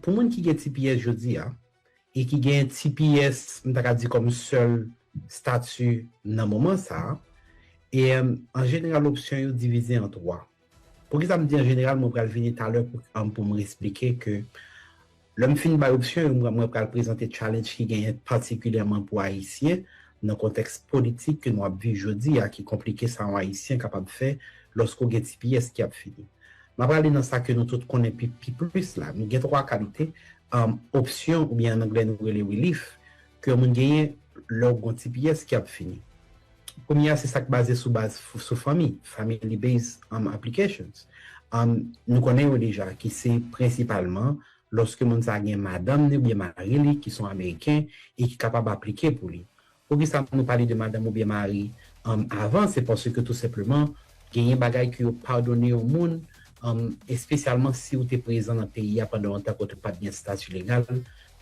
Pou moun ki gen tps jodi a, e ki gen tps m ta ka di kòm sèl stati nan moman sa a, e an jeneral opsyon yo divize an 3. Poukisa m di an jeneral, mwen pral vini talè pou m resplike ke lè m fin bay opsyon yo, mwen pral prezante challenge ki genyen patikilyèman pou Ayisyen nan kontèks politik ke nou ap viv jodi a ki konplike sa yon Ayisyen kapab fè lòske w gen tps ki ap fini. M ap ale nan sa ke nou tout konnen pi pi plis la. Nou gen twa kalite opsyon oubyen an angle nou rele relief ke yon moun genyen lè ou gen yon ti pyès ki ap fini. Premye a se sa k baze sou baz sou fanmi, family based applications. Nou konnen yo deja ki se prensipalman lòske moun sa gen madanm ni oubyen mari li ki son ameriken e ki kapab aplike pou li. Poukisa nou pale de madanm oubyen mari um avan se paske tou senpleman genyen bagay ke yo padone yon moun um espesyalman siw te prezan nan peyi a pandan yon tan kote ou pat gen stati legal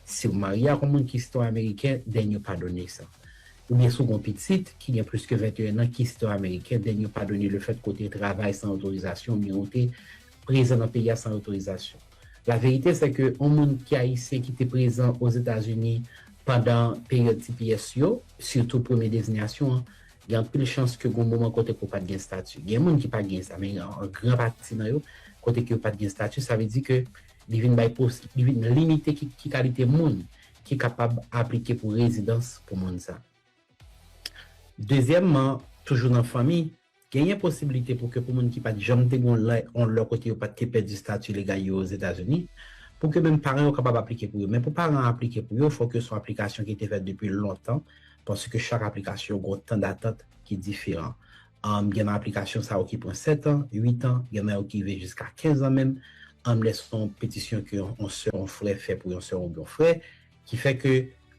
siw marye ak yon moun ki sitwayen ameriken then yo padone sa oubyen si w gen yon pitit ki gen plis ke 21 an ki sitwayen ameriken then yo padone lefèt ke w te travay san otorizasyon oubyen ou te prezan nan peyi a san otorizasyon. La vérité c'est que on moun ki ayisyen ki te prezan o Zeta Zuni pandan peryòd tps yo, sitou premye dezinyasyon an, gen anpil chans ke gon moman kote ke w pat gen stati. Gen moun ki pa gen sa men an gran pati nan yo kote ke yo pat gen stati sa vle di ke li vin bay pos li vin limite ki ki kalite moun ki kapab aplike pou rezidans pou moun sa. Dezyèmman, toujou nan fanmi. Genyen posibilite pou ke pou moun ki pat janm te gon lè on lè kote yo pat te pèdi stati legal yo Ozetazini, pou ke menm paran yo kapab aplike pou yo. Men pou paran an aplike pou yo, fòk yo son aplikasyon ki te fèt depi lontan, paske chak aplikasyon gon tan datant ki diferan. Anm gen nan aplikasyon sa yo ki pran 7 an, 8 an, gen nan yo ki rive jiska 15 an menm, anm lè son petisyon ke on sè, on frè fè pou yon sè oubyen on frè. Ki fè ke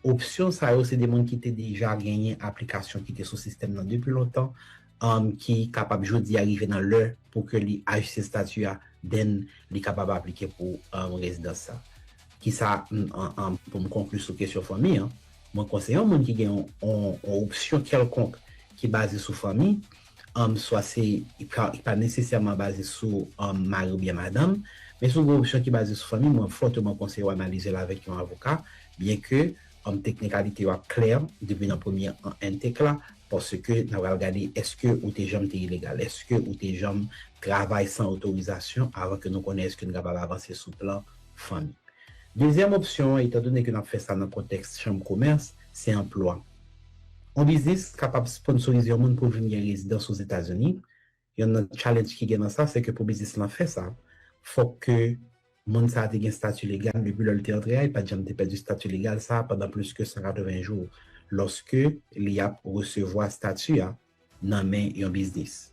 opsyon sa yo se de moun ki te deja genyen aplikasyon ki te sou sistèm nan depi lontan, ki kapab jodi a rive nan lè pou ke li ajiste stati a, then li kapab aplike pou rezidans sa. Ki sa, pou m konkli sou kesyon fanmi an, mwen kwè se yon moun ki gen yon opsyon kèlkonk ki baze sou fanmi, swa se ki pa nesesèman baze sou mari oubyen madanm, men sou gwo opsyon ki baze sou fanmi, mwen fòteman konseye w analize l avèk yon avoka, byenke teknikalite yo ap klè depi nan premye entek la, paske n ap pral gade èske ou te janm te ilegal, èske ou te janm travay san otorizasyon avan ke nou konnen èske n kapab avanse sou plan fanmi. Dezyèm opsyon an, etandone ke n ap fè sa nan kontèks chanm komès, se anplwa. Yon biznis kapab sponsorize yon moun pou l vin gen rezidans Ozetazini, yonn nan challenge ki gen nan sa se ke pou biznis lan fè sa, fòk ke moun sa a te gen stati legal depi lè l te antre a, li pa t janm te pèdi stati legal sa a pandan plis ke 180 jou lòske li ap resevwa stati a. nan men yon biznis.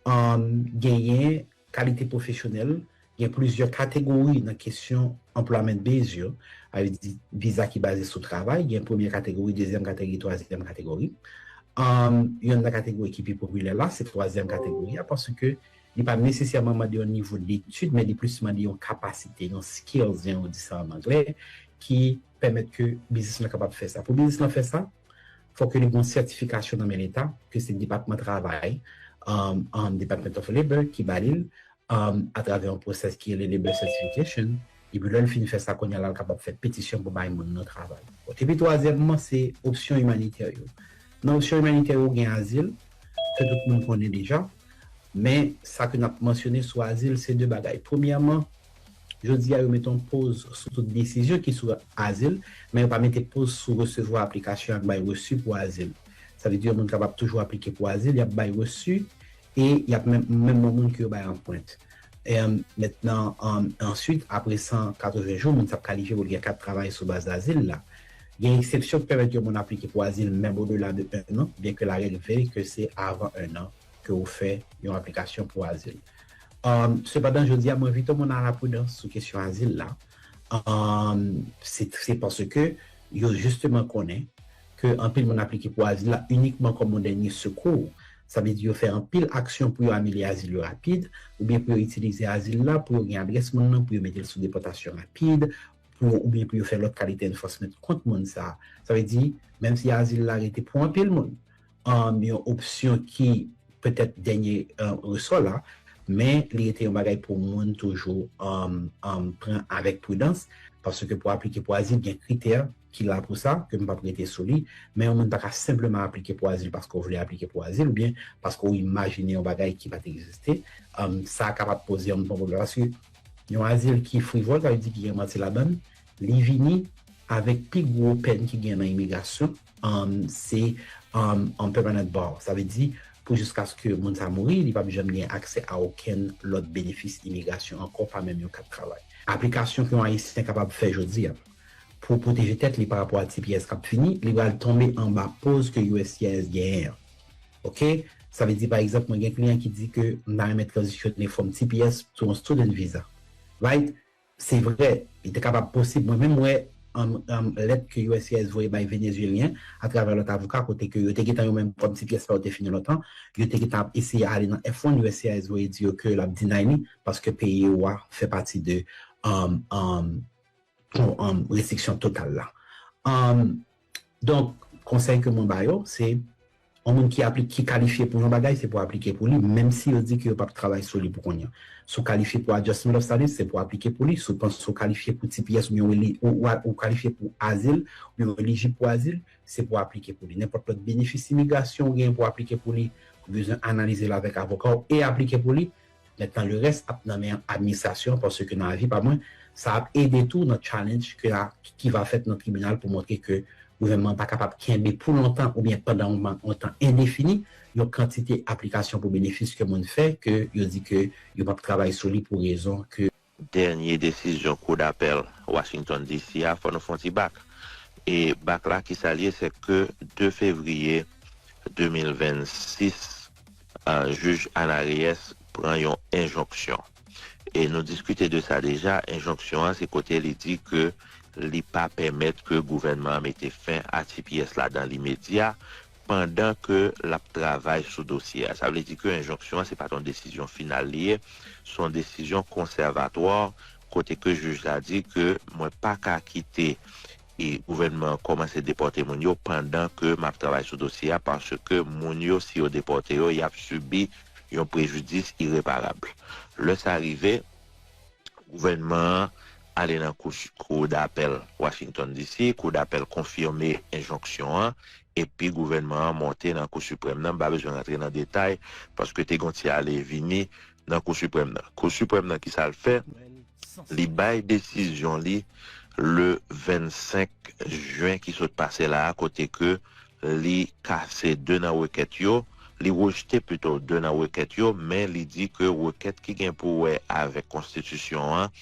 Genyen kalite pwofesyonèl, gen plizyè kategori nan kesyon Employment Base yo, sa vle di viza ki baze sou travay, gen premye kategori, dezyèm kategori, twazyèm kategori. Yonn nan kategori ki pi popilè la, se twazyèm kategori a, paske li pa nesesèman mande yon nivo detid, men li plis mande yon kapasite, yon skills, jan yo di sa an anglè, ki pèmèt ke biznis lan kapab fè sa. Pou biznis lan fè sa, fò ke li gon sètifikasyon nan men leta ke se depatman travay an department of labor ki ba lil a travè yon pwosès ki rele labor certification epi lèl fin fè sa kounye lal kapab fè petisyon pou bay moun nan travay epi twazyèmman se opsyon imanitè yo nan opsyon imanitè yo gen azil ke tout moun konnen deja men sa ke nap mansyone sou azil se de bagay premyèman Jodi a yo mete yon poz sou tout desizyon ki sou azil, men yo pa mete poz sou resevwa aplikasyon ak bay resu pou azil. Sa vle di yon moun kapab toujou aplike pou azil, y ap bay resu e y ap menm menm yon moun ke yo bay anpwent. Emm mentnan emm answit apre 180 jou moun sa ap kalifye pou l gen kat travay sou baz azil la. Gen eksepsyon ki pèmèt yon moun aplike pou azil menm odela de 1 an, byenke larèg vle ke se avan 1 an ke ou fè yon aplikasyon pou azil. Sepandan, jodi a m envite moun a la pridans sou kesyon azil la, se paske yo jisteman konnen ke anpil moun aplike pou azil la inikman kòm yon dènye sekou. Sa vle di yo fè anpil aksyon pou yo anile azil yo rapid, oubyen pou yo itilize azil la pou yo gen adrès moun nan, pou yo mete l sou depòtasyon rapid, oubyen pou yo fè lòt kalite enfòsment kont moun sa a. Sa vle di, menm si azil la rete pou anpil moun, yon opsyon ki petèt dènye resò la, men li rete yon bagay pou moun toujou pran avèk pridans, paske pou aplike pou azil gen kritè ki la pou sa, ke m p ap rete sou li, men yon moun pa ka senpleman aplike pou azil paske ou vle aplike pou azil oubyen paske ou imajine yon bagay ki pa t egziste, sa kapab poze yon bon pwoblèm paske yon azil ki frivòl, sa vle di ki gen manti ladan l, li vini avèk pi gwo pèn ki gen nan imigrasyon. se an permanent bar, sa vle di pou jiskaske moun sa mouri, li pap janm gen aksè a okenn lòt benefis imigrasyon ankò, pa menm yon kat travay. Aplikasyon ke yon Ayisyen kapab fè jodi a pou pwoteje tèt li pa rapò a tps kap fini, li pral tonbe anba poz ke uscis genyen an. Ok, sa vle di pa egzanp mwen gen kliyan ki di ke m ta renmen tranzisyone fòm tps to yon student visa, right? Se vre, li te kapab posib. Mwen menm wè lèt ke uscis voye bay Venezyelyen atravè lòt avoka kote ke yo te gentan yo menm kòm si pyès pa yo te fini lontan, yo te gentan ap eseye ale nan F-1, uscis voye di yo ke l ap deny li paske peyi ou a fè pati de restriksyon total la. Donk, konsèy ke mwen ba yo, se yon moun ki apli, ki kalifye pou yon bagay, se pou aplike pou li, menm si yo di ke yo pap travay sou li pou kounye an. Si w kalifye pou Adjustment of Status, se pou aplike pou li. Si w panse w kalifye pou tps oubyen w eli, ou a, ou kalifye pou azil, oubyen w elijib pou azil, se pou aplike pou li. Nenpòt lòt benefis imigrasyon ou genyen pou aplike pou li, ou bezwen analize l avèk avoka w e aplike pou li, Mentnan le rès ap nan men administrasyon paske nan avi pa mwen sa ap ede tou nan challenge ke a ki va fèt nan tribinal pou montre ke gouvènman an pa kapab kenbe pou lontan oubyen pandan yon man yon tan endefini yon kantite aplikasyon pou benefis ke moun fè ke yo di ke yo pap travay sou li pou rezon ke Dènye desizyon kou dapèl Washington DC a fò nou fon ti bak. E bak la kisa l ye se ke 2 fevriye 2026 jij Ana Reyes pran yon enjonksyon. E nou diskite de sa deja, enjonksyon an se kote li di ke li pa pèmèt ke gouvènman an mete fen a tps la dan limedya pandan ke l ap travay sou dosye a. Sa vle di ke enjonksyon an se pa t yon desizyon final li ye, se yon desizyon konsèvatwa kote ke jij la di ke mwen pa ka kite e gouvènman an kòmanse depòte moun yo pandan ke m ap travay sou dosye a paske moun yo si yo depòte yo y ap sibi yon prejidis ireparab. Lè sa rive. Gouvènman an ale nan Kou Dapèl Washington, DC. Kou Dapèl konfime enjonksyon an epi gouvènman an monte nan Kou Siprèm nan. M pa bezwen rantre nan detay paske te gen yon ti ale vini nan Kou Siprèm nan. Kou Siprèm nan ki sa l fè? Li bay desizyon li le 25 jen ki sot pase la a kote ke Li kase 2 nan rekèt yo, li rejte pito 2 nan rekèt yo, men li di ke rekèt ki gen pou wè avèk konstitisyon an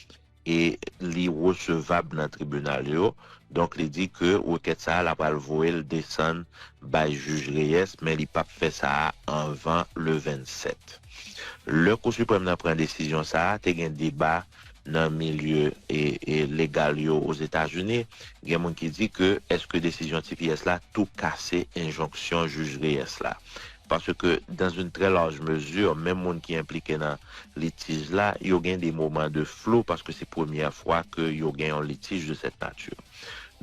e li resevab nan tribinal yo, donk li di ke rekèt sa a la pral voye l desann bay jij Reyes men li pap fè sa a anvan le 27. Lè Kou Siprèm nan pran desizyon sa a, te gen deba Nan milye legal yo Ozetazini, gen moun ki di ke eske desizyon tps la tou kase enjonksyon jij Reyes la. Paske dans une très large mesure, menm moun ki enplike nan litij la, yo gen des moments de flou paske se premyè fwa ke yo gen yon litij de cette nature.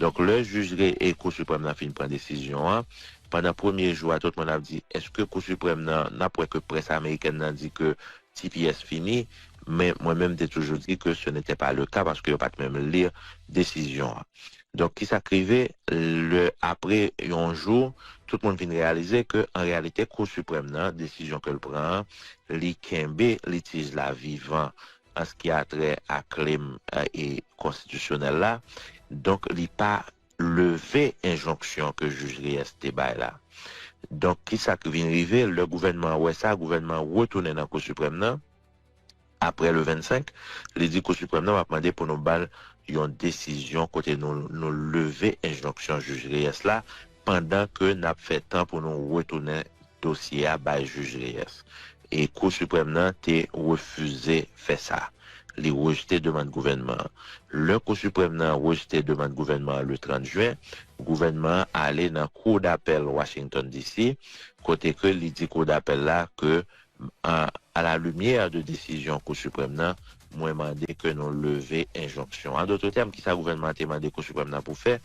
Donk lè jij Kou Siprèm nan fin pran desizyon an, pandan premye jou a tout moun ap di eske Kou Siprèm nan, n ap wè ke près amerikèn nan di ke tps fini, Men mwen menm te toujou di ke se nete pa le ka paske yo pat menm li desizyon an. Donk ki sa k rive lè apre yon jou tout moun vin reyalize ke an reyalite kou siprèm nan desizyon ke l pran an li kenbe litij la vivan an s ki a trè a klem e konstitisyonèl la donk li pa leve enjonksyon ke jij Reyes te bay la. Donk, ki sa ki vin rive? Lè gouvènman an wè sa, gouvènman an retounen nan Kou Siprèm nan, apre le 25, li di Kou Siprèm nan, m ap mande pou nou ba l yon desizyon kote nou nou leve enjonksyon jij Reyes la, pandan ke n ap fè tan pou nou retounen dosye a bay jij Reyes. e Kou Siprèm nan te refize fè sa, li rejte demann gouvènman an. Lè Kou Siprèm nan rejte demann gouvènman an le 30 jen, gouvènman an ale nan Kou Dapèl Washington, DC. kote ke li di Kou Dapèl la ke, a la limyè de desizyon Kou Siprèm nan, Mwen mande ke nou leve enjonksyon an. An dotre tèm, kisa gouvènman an te mande Kou Siprèm nan pou fè?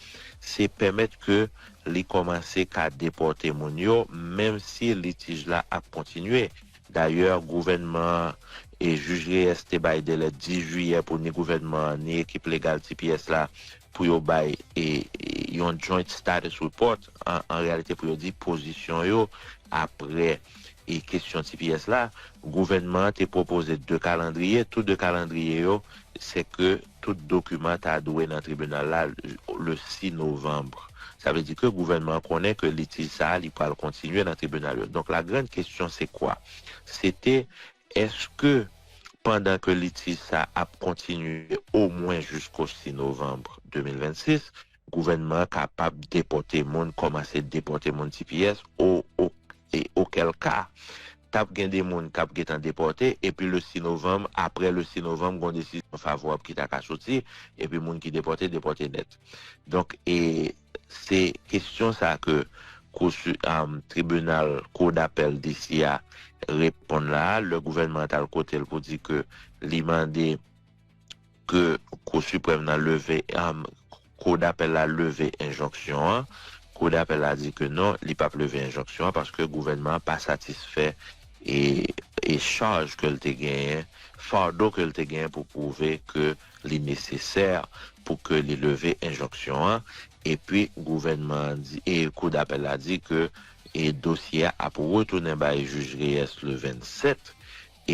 Se pèmèt ke li kòmanse ka depòte moun yo, menm si litij la ap kontinye. Dayè, gouvènman an e Jij Reyès te bay delè 10 jiyè pou ni gouvènman an ni ekip legal tps la pou yo bay yon joint status report, an reyalite pou yo di pozisyon yo apre kesyon tps la, gouvènman an te pwopoze 2 kalandriye, tou 2 kalandriye yo se ke tout dokiman ta dwe nan tribinal la le 6 novanm. Sa vle di ke gouvènman an konnen ke litij sa a li pral kontinye nan tribinal yo. Donk la grande question c'est quoi? Se te Eske pandan ke litij sa ap kontinye omwen jisko 6 novanm 2026, gouvènman an kapab depòte moun, kòmanse depòte moun tps o o e okèlka t ap gen de moun k ap gentan depòte epi le 6 novanm, apre le 6 novanm gon desizyon favorab ki ta ka soti epi moun ki depòte, depòte nèt. Donk e. Se kesyon sa ke kou si tribinal kou dapèl DC a reponn la a lè gouvènman an t al kote l pou di ke li mande ke kou siprèm nan leve kou dapèl la leve enjonksyon an kou dapèl la di ke non li pap leve enjonksyon an paske gouvènman an pa satisfè e chaj ke l te genyen fardo ke l te genyen pou pwouve ke Li nesesè pou ke li leve enjonksyon an epi gouvènman an di e kou dapèl la di ke e dosye a ap retounen bay jij Reyes le 27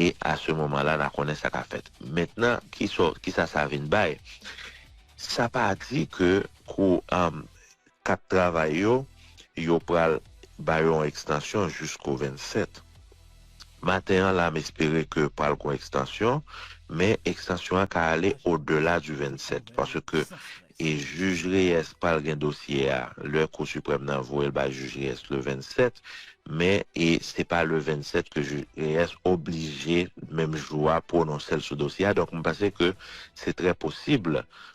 e a se moman la na konnen sa ka fèt. Mentnan kisa sa vin bay? Sa pa di ke kou Kat travay yo, yo pral ba yo yon ekstansyon jisko 27. Maten an la m espere ke pral gon ekstansyon, men ekstansyon an ka ale o dela di 27, paske e jij Reyes pral gen dosye a lè kou siprèm nan voye l bay jij Reyes le 27, men e se pa le 27 ke jij Reyes oblije menm jou a pwononse l sou dosye a, donk m panse ke se trè posib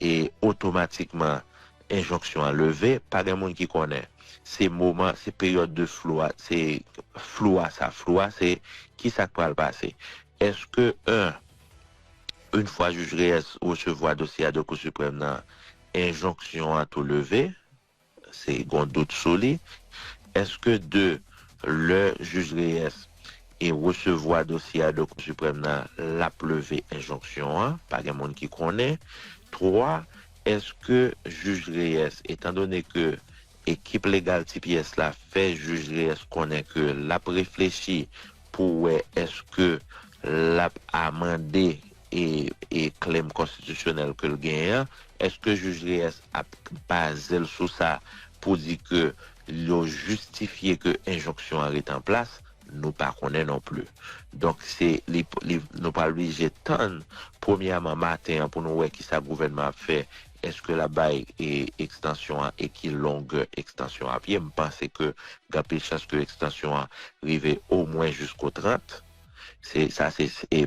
E otomatikman enjonksyon an leve, pa gen moun ki konnen. Se moman, se peryòd de flou a, se flou a sa. Flou a se ki sa k pral pase. Eske 1, Yn fwa jij Reyes resevwa dosye a de Kou Siprèm nan, enjonksyon an tou leve? Se gon dout sou li. Eske 2, lè Jij Reyes e resevwa dosye a de Kou Siprèm nan, l ap leve enjonksyon an? Pa gen moun ki konnen. 3, eske Jij Reyes, etan done ke ekip legal Ti Pyès la fè Jij Reyes konnen ke l ap reflechi pou wè eske l ap amande e klèm konstitisyonèl ke l genyen an, èske Jij Reyes ap baze l sou sa pou di ke yo jistifye ke enjonksyon an rete an plas? Nou pa konnen non pli. Donk, se li, li, nou pral blije tann premyèman maten an pou nou wè ki sa gouvènman ap fè, èske l ap bay e ekstansyon an e ki longè ekstansyon an ap ye. M panse ke gen anpil chans ke ekstansyon an rive omwen jisko 30. Se, sa se e.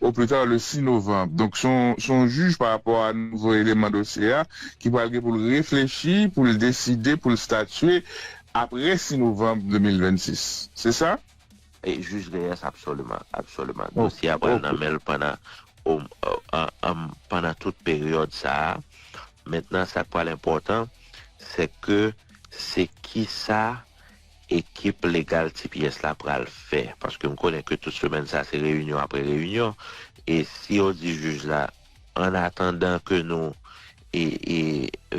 au plus tard le 6 novanb. Donk se yon jij pa rapò a nouvo eleman dosye a ki pral gen pou l reflechi, pou l deside, pou l statye aprè 6 novanb 2026. Se sa? Jij Reyes, Absoliman. Absoliman. Dosye a pral nan men l pandan pandan tout peryòd sa a. Mentnan sa k pral enpòtan se ke se kisa ekip legal tps la pral fè paske m konnen ke tout semèn sa se reyinyon apre reyinyon e si yo di jij la an atandan ke nou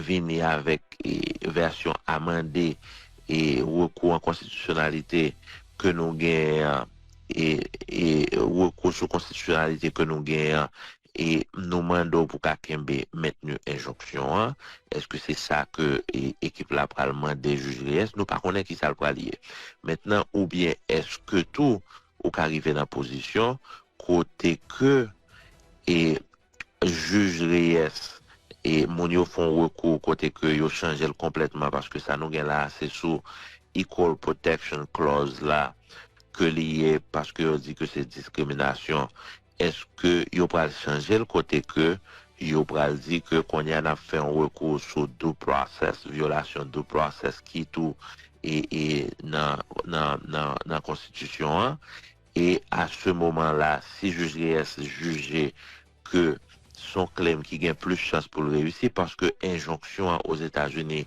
vini avèk vèsyon amande e rekou an konstitisyonalite ke nou genyen an e rekou sou konstitisyonalite ke nou genyen an e nou mande w pou ka kenbe mentni enjonksyon an, èske se sa ke ekip la pral mande jij Reyes? Nou pa konnen kisa l pral ye mentnan oubyen èske tou ou ka rive nan pozisyon kote ke e jij Reyes e moun yo fon rekou kote ke yo chanje l konplètman paske sa nou gen la a se sou equal protection clause la ke li ye paske yo di ke se diskriminasyon Eske yo pral chanje l kote ke yo pral di ke kounye a n ap fè yon rekou sou due process, vyolasyon due process ki tou nan konstitisyon an e a se moman la si jij Reyes jije ke Son klèm ki gen plis chans pou l reyisi paske enjonksyon an Ozetazini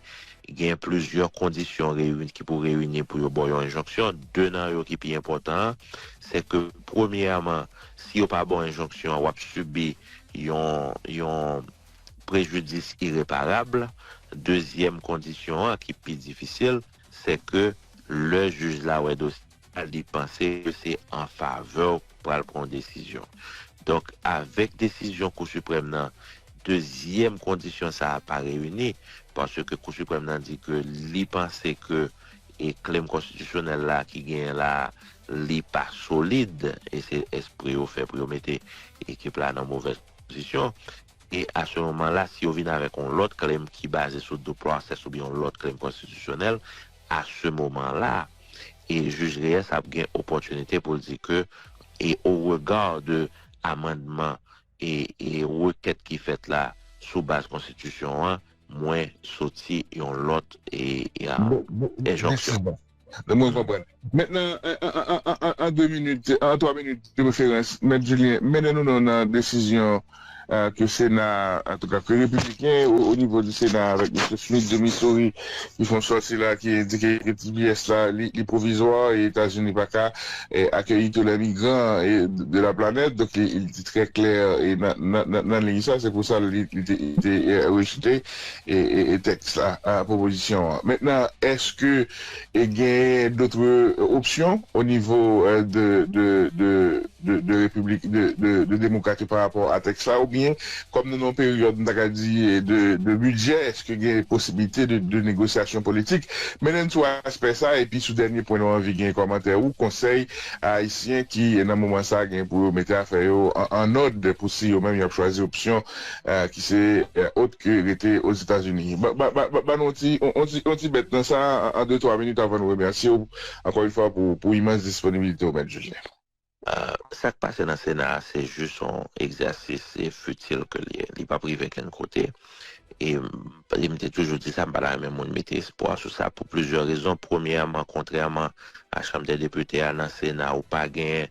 gen plizyè kondisyon reyini ki pou reyini pou yo ba w yon enjonksyon. De nan yo ki pi enpòtan an, se ke premyèman, si yo pa ba w enjonksyon an, w ap sibi yon yon prejidis ireparab. Dezyèm kondisyon an ki pi difisil, se ke lè jij la wè dosye. li panse ke se an favè w pou pral pran yon desizyon. Donk, avèk desizyon Kou Siprèm nan, dezyèm kondisyon sa a pa reyini, paske Kou Siprèm nan di ke li panse ke klem konstitisyonèl la ki genyen la a, li pa solid, e se espre yo fè pou yo mete ekip la nan movèz pozisyon. E a se moman la, si yo vin avèk yon lòt claim ki baze sou due process oubyen yon lòt claim konstitisyonèl, a se moman la, e Jij Reyes ap gen opòtinite pou l di ke e au regard de amandman e e rekèt ki fèt la sou baz konstitisyon an, mwen soti yon lòt e e a enjonksyon. Mwen konprann. Mentnan, an 2 minit, an 3 minit de preferans, Mèt Julien, mennen nou non nan desizyon ke Sena, antouka ke Repibliken o nivo di Sena avèk Misye Smith de Missouri ki fè yon sòti la ki endike ke tps la li pwovizwa e Etazini pa ka akeyi tou lè migran de la planèt. Donk li te trè klè nan liy sa, se pou sa li te rejte. tèks la, pwopozisyon an. Mentnan, èske genyen dotre opsyon o nivo de repiblik, de demokrat yo pa rapò a tèks la? Oubyen, kòm nou nan yon peryòd, m ta ka di, de bidjè, èske gen posiblite de negosyasyon politik? Mennen n sou aspè sa a, epi sou dènye pwen nou anvi gen kòmantè ou, konsèy a Ayisyen ki nan moman sa a gen pou yo mete afè yo an òd pou si yo menm y ap chwazi opsyon ki se ot ke rete Ozetazini. Ba nou yon ti bèt nan sa an de twa minit avan nou remèsye w ankò yon fwa pou imans disponibilite w, Mèt Joseph. Sa k pase nan Sena a se jis yon egzèsis fitil ke l ye. Li pap rive kenn kote. E m te toujou di sa, m pa ta renmen moun mete espwa sou sa pou plizyè rezon. Premyèman, kontrèman a Chanm dè Depite a, nan Sena ou pa gen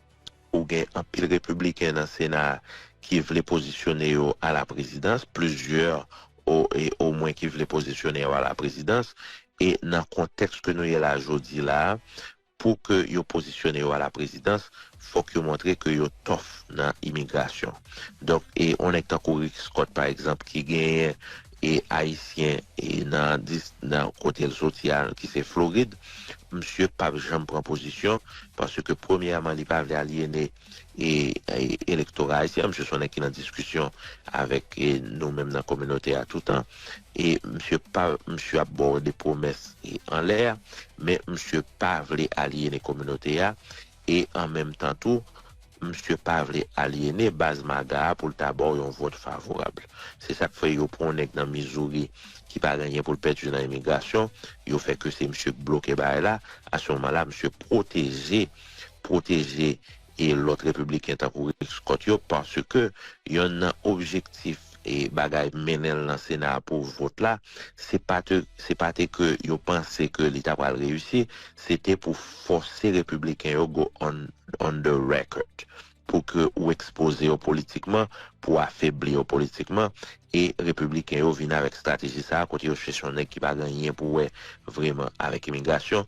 Ou gen anpil repibliken nan sena a ki vle pozisyone yo a la prezidans, plizyè omwen ki vle pozisyone yo a la prezidans, e nan kontèks ke nou ye la jodi la a, pou ke yo pozisyone yo a la prezidans, fòk yo montre ke yo tough nan imigrasyon. Donk, e yon nèg tankou Rick Scott pa egzanp ki genyen E ayisyen nan dis nan kote l soti a ki se Florid misye pap janm pran pozisyon paske premyèman li pa vle alyene e elektora ayisyen an misye son nèg ki nan diskisyon avèk nou menm nan kominote a toutan e misye pa misye ap ba w de pwomès anlè men misye pa vle alyene kominote a. E an menm tan tou, msye pa vle alyene baz MAGA a pou l ta ba w yon vòt favorab. Se sa k fè yo pran yon nèg nan Missouri ki pa gen anyen pou l pèdi nan imigrasyon, yo fè ke se msye k bloke bagay la, a se moman la msye pwoteje, pwoteje e lòt repibliken tankou Rick Scott yo paske yonn nan objektif bagay mennen l nan sena pou vot la, se pa te se pa te ke yo panse ke li ta pral reyisi, se te pou fòse repibliken yo go on on the record pou ke ou ekspoze yo politikman, pou afebli yo politikman, e repibliken yo vin avèk estrateji sa a kote yo chèche yon nèg ki pa gen anyen pou wè vreman avèk imigrasyon,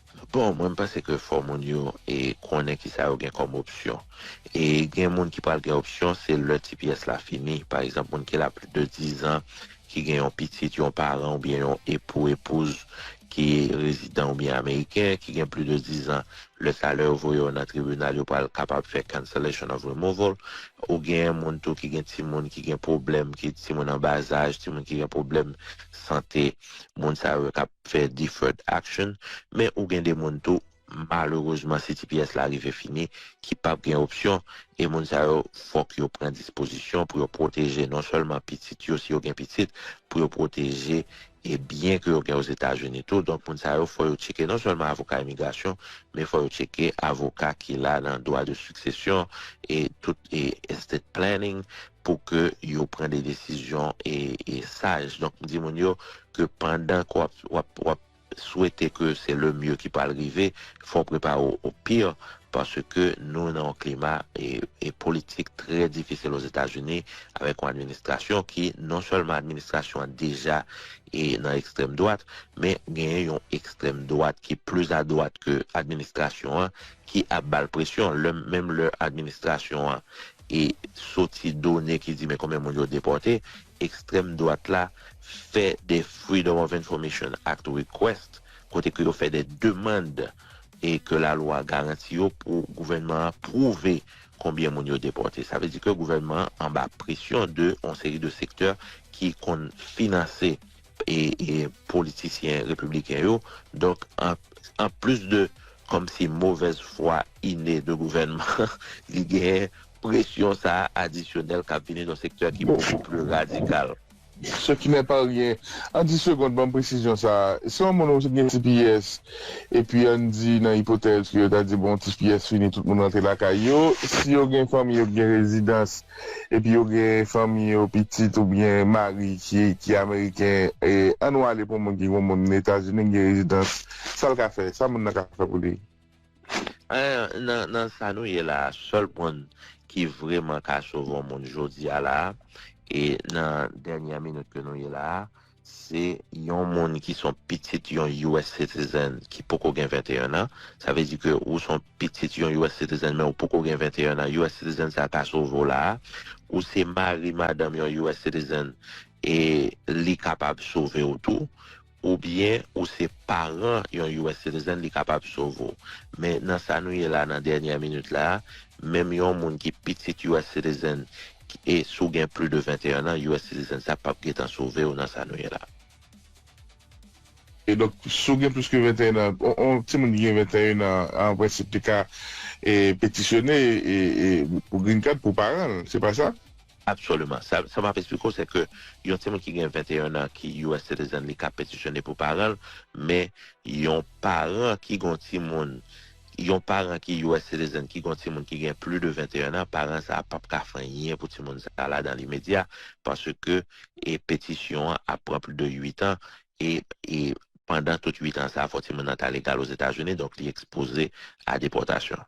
Bon, mwen m panse ke fò moun yo konnen kisa yo gen kòm opsyon. E gen moun ki pral gen opsyon se lè ti pyès la fini. Pa egzanp, moun ki la plis de dizan, ki gen yon pitit, yon paran oubyen yon epou, epouz ki rezidan oubyen ameriken, ki gen plis de dizan, lè sa lè yo voye yo nan tribinal yo pral kapab fè cancellation of removal. Ou gen moun tou ki gen timoun ki gen pwoblèm, ki timoun anbazaj, timoun ki gen pwoblèm sante, moun sa yo ka. fè deferred action men ou gen de moun tou malerezman si tps la rive fini ki pap gen opsyon e moun sa yo fòk yo pran dispozisyon pou yo pwoteje non sèlman pitit yo si yo gen pitit pou yo pwoteje e byen ke yo gen ozetazini tou donk moun sa yo fò yo tcheke non sèlman avoka imigrasyon men fò yo tcheke avoka ki la nan dwa de siksesyon e tout e estate planning pou ke yo pran de desizyon e saj. Donk m di moun yo ke pandan ke w ap swete ke se le mye ki pral rive, fò w prepare w o pi, paske nou nan yon klima e politik trè difisil Ozetazini avèk yon administrasyon ki non sèlman administrasyon an deja e nan ekstrèm dwat, men genyen yon ekstrèm dwat ki plis a dwat ke administrasyon an ki ap ba l presyon, menm lè administrasyon an E soti done ki di men konbyen moun yo depòte, ekstrèm dwat la fè de Freedom of Information Act request kote ke yo fè de demand e ke lalwa garanti yo pou gouvènman an pwouve konbyen moun yo depòte. Sa vle di ke gouvènman an anba presyon de yon seri de sektè ki konn finanse. politisyen repibliken yo donk an plis de kòmsi movèz fwa ine de gouvènman an li genyen presyon sa adisyonèl kap vini nan sektè ki bokou pli radikal. Ce qui n'est pas rien An 10 segond banm presizyon sa si yon moun gen tps epi ann di nan ipotèz ke yo ta di bon tps fini tout moun rantre lakay yo si yo gen fanmi yo ki gen rezidans epi yo gen fanmi yo, pitit oubyen mari ki ameriken, an nou ale pou moun ki gen moun etazini ki gen rezidans, sal ka fè, sa moun nan ka fè pou li? Nan sa nou ye la a, sèl moun ki vreman ka sove yon moun jodi a la a, e nan dènyè minit ke nou ye la a, Se yon moun ki son pitit yon US citizen ki poko gen 21 an. Sa vle di ke ou son pitit yon US citizen men ou poko gen 21 an. US citizen sa ka sove w la a. Ou se mari, madanm yon US citizen e li kapab sove w tou. Ou byen ou se paran yon US citizen li kapab sove w. Men nan sa nou ye la nan dènyè minit la a, menm yon moun ki pitit US citizen, E si w gen pli de 21 an, US Citizen sa pap gentan sove w nan sa nou ye la. E donk, si w gen plis ke 21 an, yon timoun ki gen 21 an an prensip te ka petisyone pou green card pou paran l, se pa sa? Absoliman. Sa m ap esplike w se ke yon timoun ki gen 21 an ki US Citizen li ka petisyone pou paran l, men yon paran ki gen yon timoun Yon paran ki us citizen ki gon timoun ki gen pli de 21 an, paran sa a pap ka fè anyen pou timoun sa a la dan limedya paske e petisyon an ap pran pli de 8 an e e pandan tout 8 an sa a fò timoun nan ta legal Ozetazini donk li ekspoze a depòtasyon.